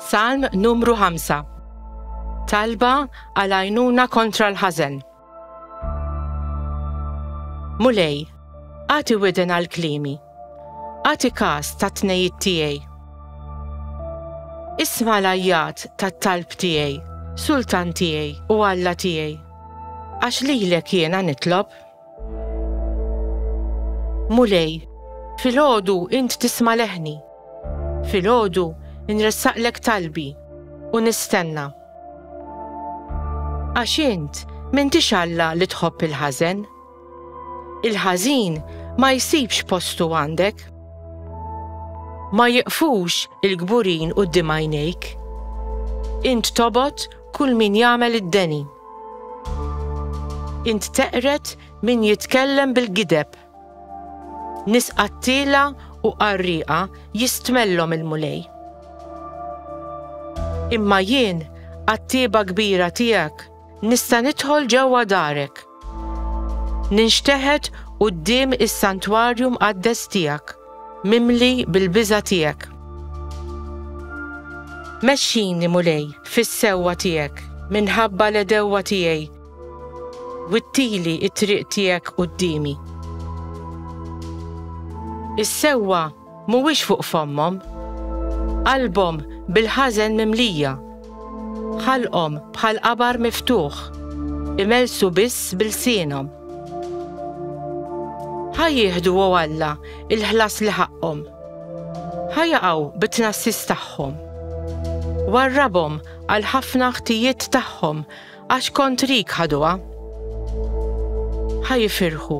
Salm numru 5 Talba għal għajnuna kontra l-ħażen. Mulej, għati widen għal klimi, għati kas ta' tnejit tiegħi. Isma l-ajjat ta' talb tiegħi, sultan tiegħi u alla tiegħi. Għax lilek jiena nitlob. Mulej, filgħodu int tisma' leħni. Filgħodu nressaqlek talbi u nistenna. Għax int m'intix Alla li tħobb il-ħażen. Il-ħażin ma jsibx postu għandek. Ma jiqfux il-kburin quddiem għajnejk. Int tobgħod Kull min jagħmel id-deni. Int teqred min jitkellem bil-gideb. Nies qattiela u qarrieqa jistmellhom il-Mulej. Imma jien, għat-tieba kbira tiegħek, nista' nidħol ġewwa darek. Ninxteħet quddiem is-santwarju mqaddes tiegħek, mimli bil-biża' tiegħek. Mexxini, Mulej, fis-sewwa tiegħek minħabba l-għedewwa tiegħi, wittili t-triq tiegħek quddiemi. Is-sewwa Mhuwiex fuq fommhom. Qalbhom bil-ħażen mimlija. Ħalqhom bħal qabar miftuħ. Imellsu biss b'ilsienhom. Ħa jieħdu, o Alla, il-ħlas li ħaqqhom. Ħa jaqgħu bit-tnassis tagħhom. Warrabhom għall-ħafna ħtijiet tagħhom Għax kontrik ħaduha. Ħa jifirħu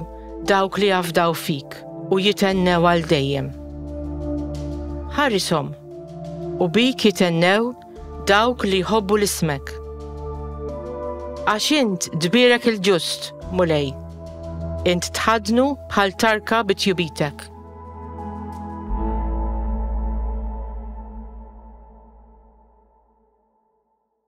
dawk li jafdaw fik u jitennew għal dejjem. Ħarisom u bik jitennew dawk li jħobbu l-ismek. Għax int dbirek il-ġust, mulej, int tħadnu bħal tarka bitjubitek.